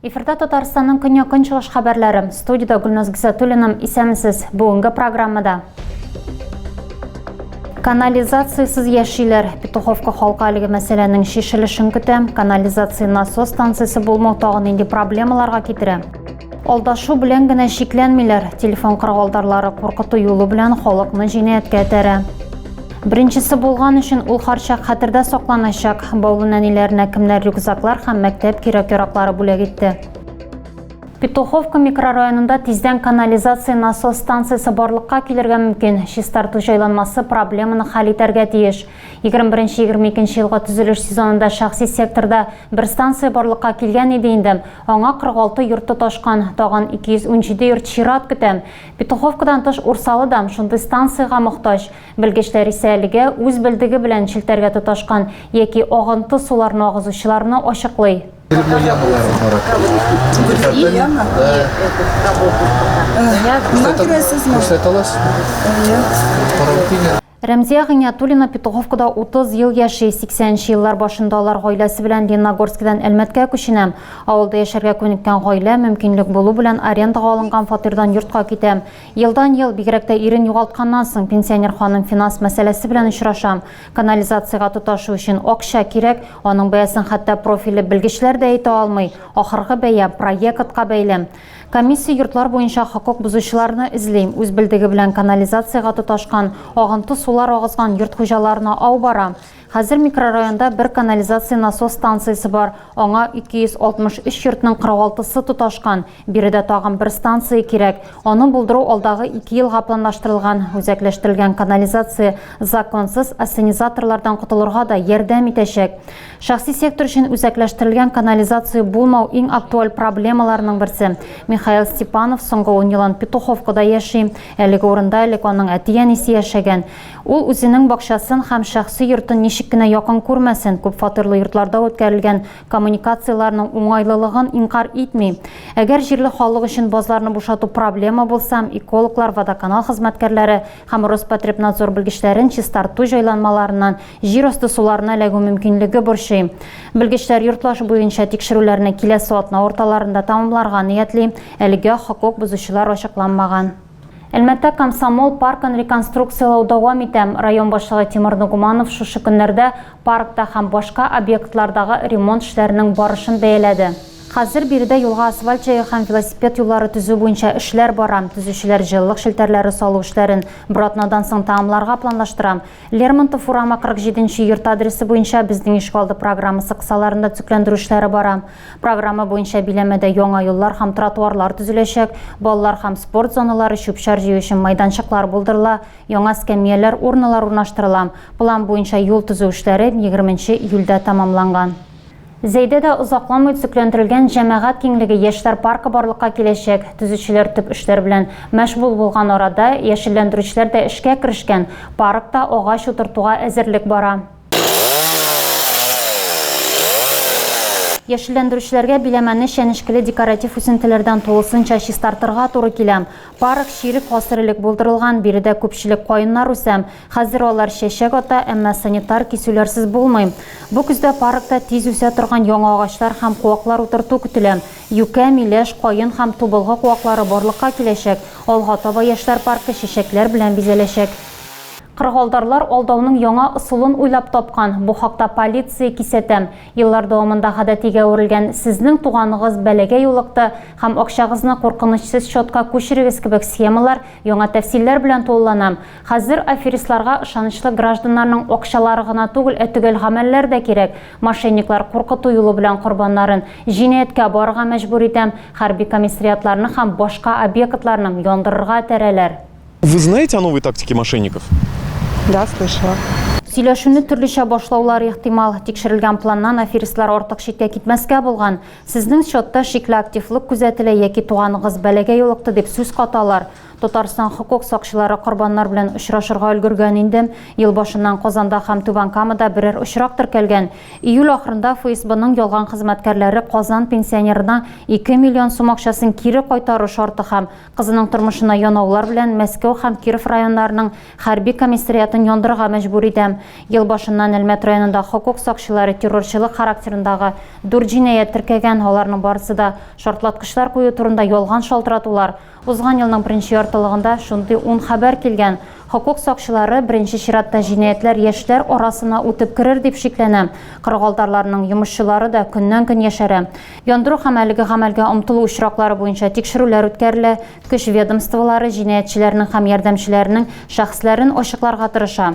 Эфирда Татарстанның көньяк көнчыгыш хәбәрләре. Студияда Гөлназ Гисатуллина. Исәмсез. Бүгенге программада Канализациясез яшиләр. Петуховка халкы әлеге мәсьәләнең шешелешен көтә. Канализация насос станциясе булмау тагын нинди проблемаларга китерә? Алдашу белән генә чикләнмиләр, телефон кыргылдарлары куркыту юлы белән халыкны җинаятькә этәрә. Беренчесе булган өчен ул харчак хәтердә сакланачак. Баулы нәниләренә кемнәр рюкзаклар һәм мәктәп кирәк-яраклары бүләк итте. Петуховка микрорайонында тиздән канализация насос станциясе барлыкка килергә мөмкин. Чистарту җайланмасы проблеманы хәл итәргә тиеш. 21-22 елга төзелеш сезонында шәхси секторда бер станция барлыкка килгән иде инде. Аңа 46 йорт тоташкан, тагын 217 йорт чират көтә. Петуховкадан тыш Урсалы да шундый станциягә мохтаҗ. Белгечләр исә әлегә үз белдеге белән челтәргә тоташкан яки агынты суларны агызучыларны ачыклый. Рәмзия Гыйниятуллина Петуховкада 30 ел яши. 80 нче еллар башында алар гаиләсе белән Лениногорскидан Әлмәткә күченә. Авылда яшәргә күнеккән гаилә, мөмкинлек булу белән, арендага алынган фатирдан йортка китә. Елдан-ел, бигрәк тә ирен югалтканнан соң, пенсионер ханым финанс мәсьәләсе белән очраша. Канализациягә тоташу өчен акча кирәк. Аның бәясен хәтта профильле белгечләр дә әйтә алмый. Ахыргы бәя, проектка бәйле. Комиссия йортлар буенча хокук бозучыларны эзли, үз белдеге белән канализациягә тоташкан, агынты сулар агызган йорт хуҗаларына ау бара. Хәзер микрорайонда бер канализация насос станциясе бар, аңа 263 йортның 46-сы тоташкан. Биредә тагын бер станция кирәк. Аны булдыру алдагы ике елга планлаштырылган. Үзәкләштерелгән канализация законсыз ассенизаторлардан котылырга да ярдәм итәчәк. Шәхси сектор өчен үзәкләштерелгән канализация булмау иң актуаль проблемаларның берсе. Михаил Степанов соңгы ун елын Петуховкада яши. Әлеге урында элек аның әти-әнисе яшәгән. Ул үзенең бакчасын һәм шәхси йортын ничек кенә якын күрмәсен, күпфатирлы йортларда үткәрелгән коммуникацияләрнең уңайлылыгын инкарь итми. Әгәр җирле халык өчен базларны бушату проблема булса, экологлар, водоканал хезмәткәрләре һәм Роспотребнадзор белгечләрен чистарту җайланмаларыннан Җир асты суларына эләгү мөмкинлеге борчый. Белгечләр йортлаш буенча тикшерүләрне киләсе атна урталарында тәмамларга ниятли, әлегә хокук бозучылар ачыкланмаган. Әлмәттә Комсомол паркын реконструкцияләү дәвам итә. Район башлыгы Тимур Нугуманов шушы көннәрдә паркта һәм башка объектлардагы ремонт эшләренең барышын бәяләде. Хәзер биредә юлга асфальт җәю һәм велосипед юллары төзү буенча эшләр бара. Төзүчеләр җылылык челтәрләре салу эшләрен бер атнадан соң тәмамларга планлаштыра. Лермонтов урамы 47 нче йорт адресы буенча Безнең ишегалды программасы кысаларында төзекләндерү эшләре бара. Программа буенча биләмәдә яңа юллар һәм тротуарлар төзеләчәк, балалар һәм спорт зоналары, чүп-чар җыю өчен майданчыклар булдырыла, яңа эскәмияләр, урналар урнаштырыла. План буенча юл төзү эшләре 20 нче июльдә тәмамланган. Зәйдәдә озакламый төзекләндерелгән җәмәгать киңлеге яшьләр паркы барлыкка киләчәк. Төзүчеләр төп эшләр белән мәшгуль булган арада, яшелләндерүчеләр дә эшкә керешкән, паркта агач утыртуга әзерлек бара. Яшелләндерүчеләргә биләмәне чәнечкеле декоратив үсентеләрдән тулысынча чистартырга туры килә. Парк чирек гасыр элек булдырылган, биредә күпчелек каеннар үсә. Хәзер алар чәчәк ата, әмма санитар кисүләрсез булмый. Бу көздә паркта тиз үсә торган яңа агачлар һәм куаклар утырту көтелә. Юкә, миләш, каен һәм тубылгы куаклары барлыкка киләчәк, алга таба яшьләр паркы чәчәкләр белән бизәләчәк. Кыргалтарлар алдауның яңа ысулын уйлап тапкан, бу хакта полиция кисәтә. Еллар дәвамында гадәтигә әверелгән, сезнең туганыгыз бәлагә юлыкты һәм акчагызны куркынычсыз счетка күчерегез кебек схемалар яңа тәфсилләр белән тулылана. Хәзер аферистларга ышанычлы гражданнарның акчалары гына түгел, ә төгәл гамәлләр дә кирәк. Мошенниклар куркыту юлы белән корбаннарын җинаятькә барырга мәҗбүр итә, хәрби комиссариатларны һәм башка объектларны яндырырга этәрәләр. Вы знаете о новой тактике мошенников? Да, слышала. Сөйләшүне төрлечә башлаулар ихтимал. Тикшерелгән планнан аферистлар артык читкә китмәскә булган. Сезнең счетта шикле активлык күзәтелә яки туганыгыз бәлагә юлыкты дип сүз каталар. Татарстан хокук сакчылары корбаннар белән очрашырга өлгергән инде. Ел башыннан Казанда һәм Түбән Камада берәр очрак теркәлгән. Июль ахырында ФСБның ялган хезмәткәрләре казан пенсионерына 2 миллион сум акчасын кире кайтару шарты һәм кызының тормышына янаулар белән Мәскәү һәм Киров районнарының хәрби комиссариатын яндырырга мәҗбүр итә. Ел башыннан Әлмәт районында хокук сакчылары террорчылык характерындагы дүрт җинаять теркәгән, аларның барысы да шартлаткычлар кую турында ялган шалтыратулар, Узган елның беренче яртылыгында шундый ун хәбәр килгән. Хокук сакчылары беренче чиратта җинаятьләр яшьләр арасына үтеп керер дип шикләнә. Кырыгалдарларның йомышчылары да көннән-көн яшәрә. Яндыру һәм әлеге гамәлгә омтылу очраклары буенча тикшерүләр үткәрелә, көч ведомстволары җинаятьчеләрнең һәм ярдәмчеләренең шәхесләрен ачыкларга тырыша.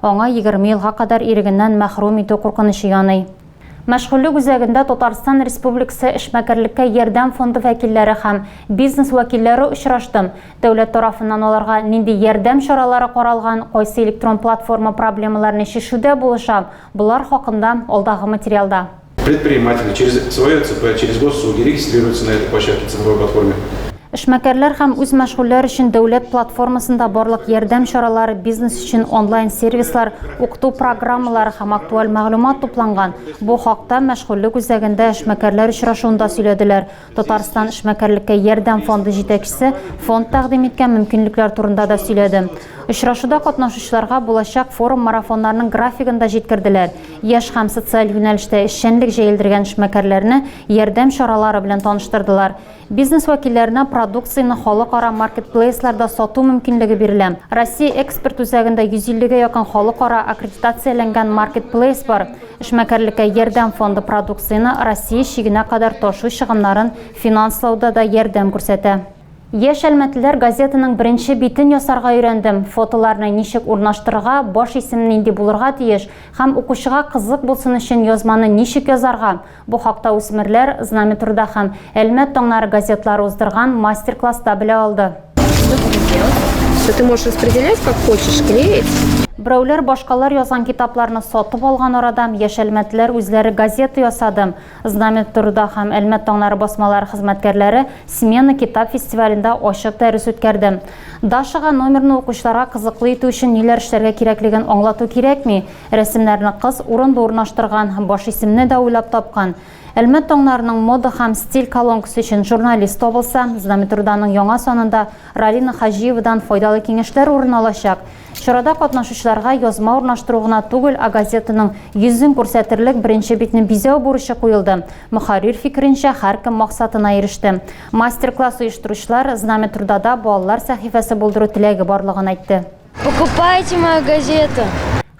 Аңа егерме елга кадәр ирегеннән мәхрүм итү куркынычы яный. Мәшгульлек үзәгендә Татарстан Республикасы эшмәкәрлеккә ярдәм фонды вәкилләре һәм бизнес вәкилләре очрашты. Дәүләт тарафыннан аларга нинди ярдәм чаралары каралган, кайсы электрон платформа проблемаларны чишүдә булыша, болар хакында алдагы материалда. Предприниматели через свое ЦП, через госсуди регистрируется на этой площадке цифровой платформе. Эшмәкәрләр һәм үз мәшгульләр өчен дәүләт платформасында барлык ярдәм чаралары, бизнес өчен онлайн сервислар, укыту программалары һәм актуаль мәгълүмат тупланган. Бу хакта мәшгульлек үзәгендә эшмәкәрләр очрашуында сөйләделәр. Татарстан эшмәкәрлеккә ярдәм фонды җитәкчесе фонд тәкъдим иткән мөмкинлекләр турында да сөйләде. Очрашуда катнашучыларга булачак форум-марафоннарның графигын да җиткерделәр. Яшь һәм социаль юнәлештә эшчәнлек җәелдергән эшмәкәрләрне ярдәм чаралары белән таныштырдылар. Бизнес вәкилләренә продукцияне халыкара маркетплейсларда сату мөмкинлеге бирелә. Россия экспорт үзәгендә 150 гә якын халыкара аккредитацияләнгән маркетплейс бар. Эшмәкәрлеккә ярдәм фонды продукцияне Россия чигенә кадәр ташу чыгымнарын финанслауда да ярдәм күрсәтә. Яшь әлмәтлеләр газетаның беренче битен ясарга өйрәндем, фотоларны ничек урнаштырырга, баш исем нинди булырга тиеш һәм укучыга кызык булсын өчен язманы ничек язарга, бу хакта Үсмерләр, Знамя труда һәм Әлмәт таңнары газетлары уздырган мастер-класста белә алды. что ты можешь распределять как хочешь, клеить. Берәүләр башкалар язган китапларны сатып алган арадам яшәлмәтләр үзләре газета ясадым. Знамя турыда һәм Әлмәт таңнары басмалары хезмәткәрләре смена китап фестивалендә ачык дәрес үткәрдем. Дашага номерны укучыларга кызыклы итү өчен ниләр эшләргә кирәклеген аңлату кирәкми. Рәсемнәрне кыз урынлы урнаштырган, баш исемне дә уйлап тапкан. Әлмәт таңнарының мода һәм стиль колонкасы өчен журналист табылса, Знаметруданың яңа санында Ралина Хаҗиевадан файдалы киңәшләр урын алачак. Чарада катнашучыларга язма урнаштыру гына түгел, ә газетаның йөзен күрсәтерлек беренче битне бизәү бурычы куелды. Мөхәррир фикеренчә, һәркем максатына иреште. Мастер-класс оештыручылар Знаметрудада балалар сәхифәсе булдыру теләге барлыгын әйтте. Покупайте мою газету.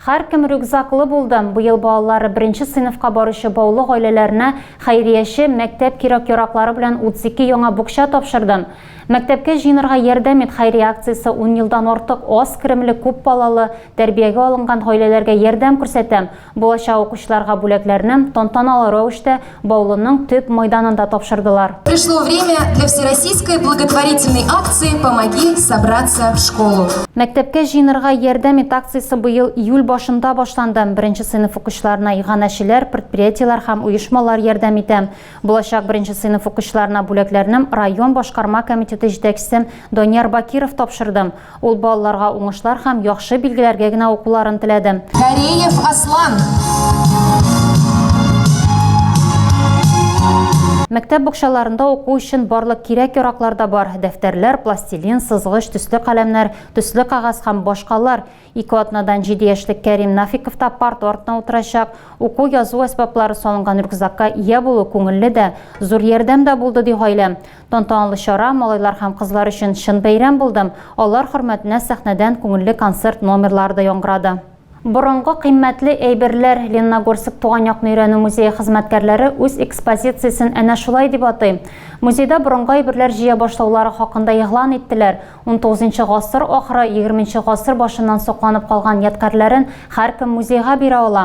Һәркем рюкзаклы булды. Быел балалары беренче сыйныфка баручы баулы гаиләләренә хәйрияче мәктәп кирәк-яраклары белән 32 яңа букча тапшырды. Мәктәпкә җыенырга ярдәм ит хәйрия акциясе 10 елдан артык аз керемле күп балалы тәрбиягә алынган гаиләләргә ярдәм күрсәтә. Булачак укучыларга бүләкләрне тантаналы рәвештә Баулының төп майданында тапшырдылар. Пришло время для всероссийской благотворительной акции «Помоги собраться в школу». Мәктәпкә җыенырга ярдәм ит акциясе быел июль башында башланды. Беренче сыйныф укучыларына иганәчеләр, предприятиеләр һәм оешмалар ярдәм итә. Булачак беренче сыйныф укучыларына бүләкләрне район башкарма комитеты җитәкчесе Данияр Бакиров тапшырды. Ул балаларга уңышлар һәм яхшы билгеләргә генә укуларын теләде. Кареев Аслан. Мәктәп букчаларында уку өчен барлык кирәк-яраклар да бар, дәфтәрләр, пластилин, сызгыч, төсле каләмнәр, төсле кәгазь һәм башкалар. Ике атнадан җиде яшьлек Кәрим Нафиков та парта артына утырачак. Уку, язу әсбаплары салынган рюкзакка ия булу күңелле дә, зур ярдәм дә булды, ди гаилә. Тантаналы чара малайлар һәм кызлар өчен чын бәйрәм булды. Алар хөрмәтенә сәхнәдән күңелле концерт номерлары да яңгырады. Борынгы кыйммәтле әйберләр, Лениногорск туган якны өйрәнү музее хезмәткәрләре үз экспозициясен әнә шулай дип атый. Музейда борынгы әйберләр җыя башлаулары хакында игълан иттеләр. Унтугызынчы гасыр ахыры, егерменче гасыр башыннан сакланып калган ядкарьләрен һәркем музейга бирә ала.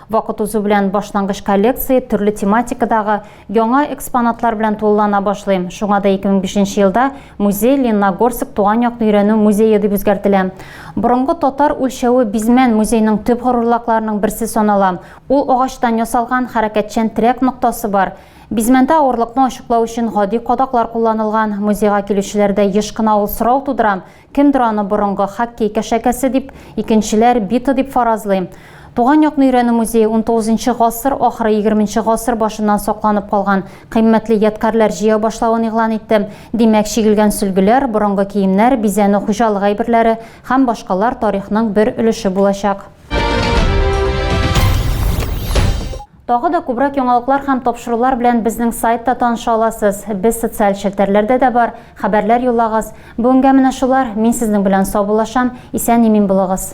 Вакыт узу белән башлангыч коллекция төрле тематикадагы яңа экспонатлар белән тулылана башлый. Шуңа да 2005 елда музей Ленногорск туган якны өйрәнү музее дип үзгәртелә. Борынгы татар үлчәве Бизмән музейның төп горурлыкларының берсе санала. Ул агачтан ясалган хәрәкәтчән терәк ноктасы бар. Бизмәндә авырлыкны ачыклау өчен гади кадаклар кулланылган. Музейга килүчеләрдә еш кына ул сорау тудыра, Кемдер аны борынгы хоккей кәшәкәсе дип, икенчеләр бита дип фаразлый. Туган якны өйрәнү музее унтугызынчы гасыр ахыры егерменче гасыр башыннан сакланып калган кыйммәтле ядкарьләр җыя башлавын игълан итте. Димәк, чигелгән сөлгеләр, борынгы киемнәр, бизәнү хуҗалык әйберләре һәм башкалар тарихның бер өлеше булачак. Тагы да күбрәк яңалыклар һәм тапшырулар белән безнең сайтта таныша аласыз. Без социаль челтәрләрдә дә бар, хәбәрләр юллагыз. Бүгенгә менә шулар, мин сезнең белән саубуллашам, исән-имин булыгыз.